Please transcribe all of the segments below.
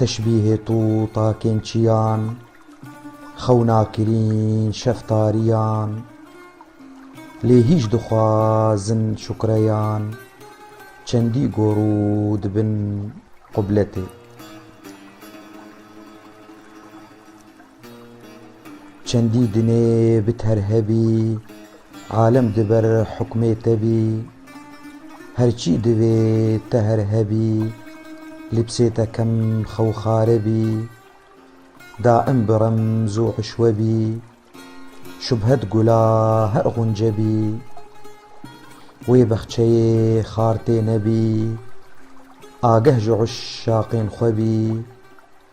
Teşbîhê to takên çiyan, xewna kirîn şeftariyan, lê hîç dixwazin şukreyan, çendî gor û dibin qubletê. Çendî dinê bi ter hebî. Alem di ber hukmê te bî. Her çî divê te her hebî. Lîbsê te kem xewxare bî. Daim bi remz û hişwe bî. Şubhet gula her xunce bî. Wê bexçeyê xar tê nebî. Ageh ji uşaqên xwe bî.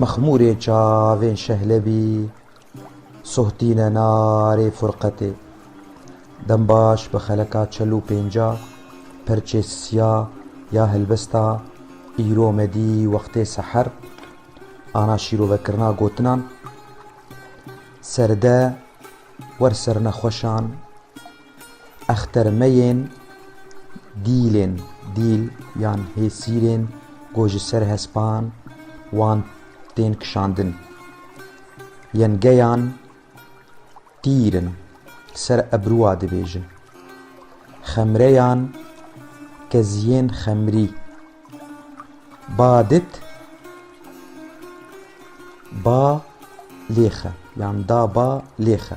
Mexmûrê çavên Şehlebî sohtîne narê furqetê. Dembaş bi xeleka çel û pênca perçê siya ya helbesta îro medî wextê seher ana şîrovekirina gotinan, Serde wer sernexweşan! Extermeyên dîlên, dîl yan hêsîrên ku ji ser hespan wan tên kişandin, yên geyan tîr in li ser ebruwa dibêjin. Xemreyan keziyên xemrî, ba dit ba lêxe yan da ba lêxe.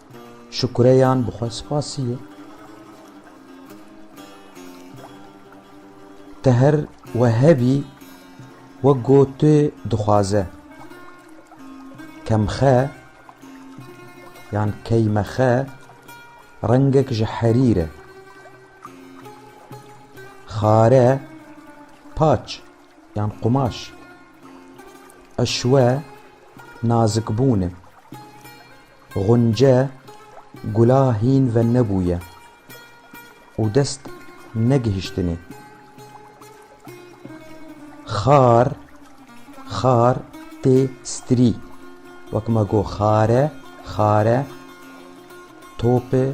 Şukureyan bi xwe spasî ye. Te her we hebî wek go tu dixwaze. Kemxe yan keymexe rengek ji herîr e. Xare paç yan qumaş. Eşwe nazikbûn e. Xunce gula hîn ve nebûye û dest negihiştinê. Xar, xar tê stirî. Wek ma got xare, xare topê,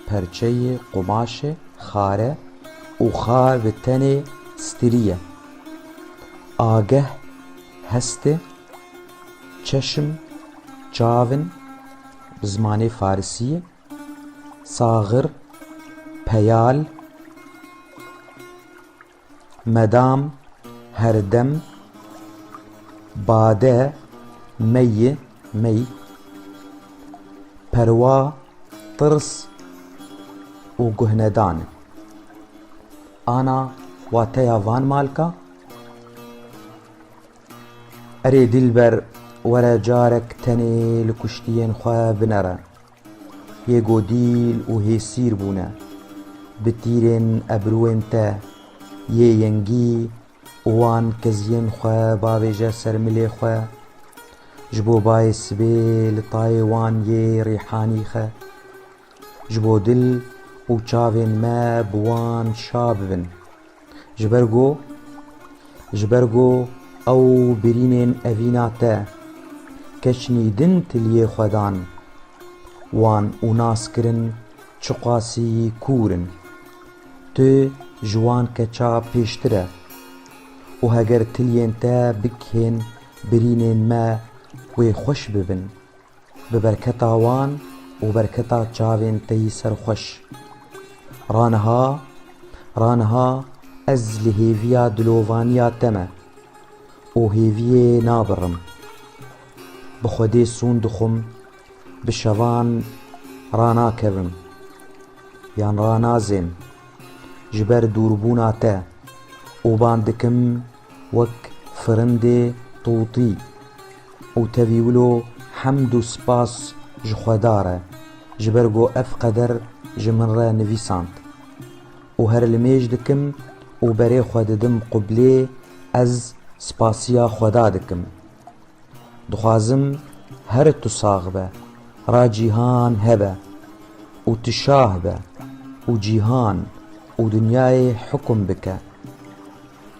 perçeyê, qumaşê, xare û xar bi tenê stirî ye. Ageh hestê. Çeşm, çavin, bi zimanê farisî, saxir, peyal, medam, herdem, bade, meyî, mey, perwa, tirs û guhnedan in. Ana wateya van malka. Erê dîlber were carek tenê li kuştiyên xwe binere. Yê ku dîl û hêsîr bûne, bi tîrên ebruên te yê yengî û wan keziyên xwe bavêje ser milê xwe, ji bo bayê sibê li tayê wan yê rîhanî xe. Ji bo dil û çavên me bi wan şa bibin. Ji ber ku ji ber ku ew birînên evîna te keçnî din tiliyê xwe dan wan û nas kirin çiqasî kûr in. Tu ji wan keça pêştir e û heger tiliyên te bikihên birînên me wê xweş bibin. Bi berketa wan û berketa çavên te yî ser xweş. Ra niha, ra niha ez li hêviya dilovaniya te me û hêviyê nabirim. Bi Xwedê sûn dixwim bi şevan ranakevim yan ranazêm ji ber dûrbûna te û band dikim, wek firindê tûtî û tevî wilo hemd û spas ji xwedar e ji ber ku ev qeder ji min re nivîsand û her li mêj dikim û berê xwe didim qublê ez spasiya xweda dikim dixwazim her tu sax be ra cîhan hebe û tu şah be û cîhan û dinyayê hukum bike.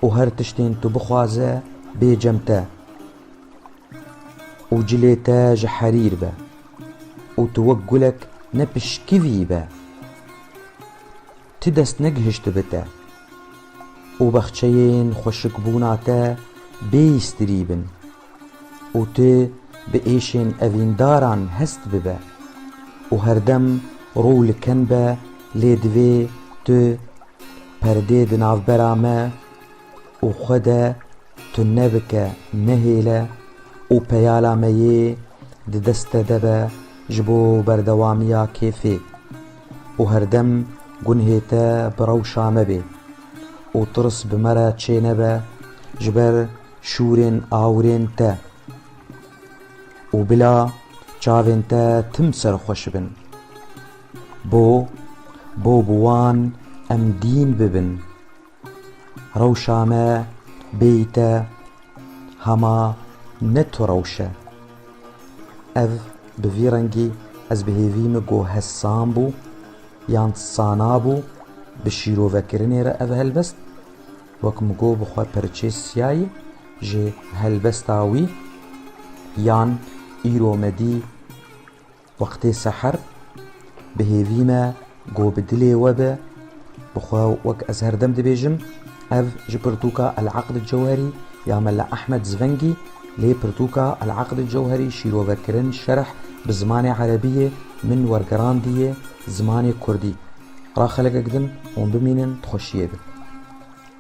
û her tiştên tu bixwaze bê cem te û cilê te ji herîr be û tu wek gulek ne pişkivî be. Ti dest negihiştibi te û bexçeyên xweşikbûna te bêîstirî bin. Û tu bi êşên evîndaran hest bibe û herdem rû li ken be, lê divê tu perdê di navbera me û xwe de tune bike, nehêle û peyala me yê di dest te de be ji bo berdewamiya kêfê û herdem gunhê te bi rewşa me bê û tirs bi me re çênebe ji ber Şûrên awirên te û bila çavên te tim serxweş bin. Bo, bo bi wan em dîn bibin. Rewşa me bêyî te hema ne tu rewş e. Ev bi vî rengî ez bi hêvî min ku hez san bû yan sana bû bi şîrovekirinê re ev helbest Wek min got bi xwe perçê siyayî ji helbesta wî yan îro me dî wextê seher bi hêvî me got bi dilê we be bi xwe wek ez herdem dibêjim ev ji pirtûka El Aqd Cewherî ya Mela Ehmed Zvengî lê pirtûka El Aqd Cewherî şîrovekirin şerh bi zimanê erebî yê min wergerandiye zimanê kurdî ra xelek gidim hûn bimînin di xweşiyê de.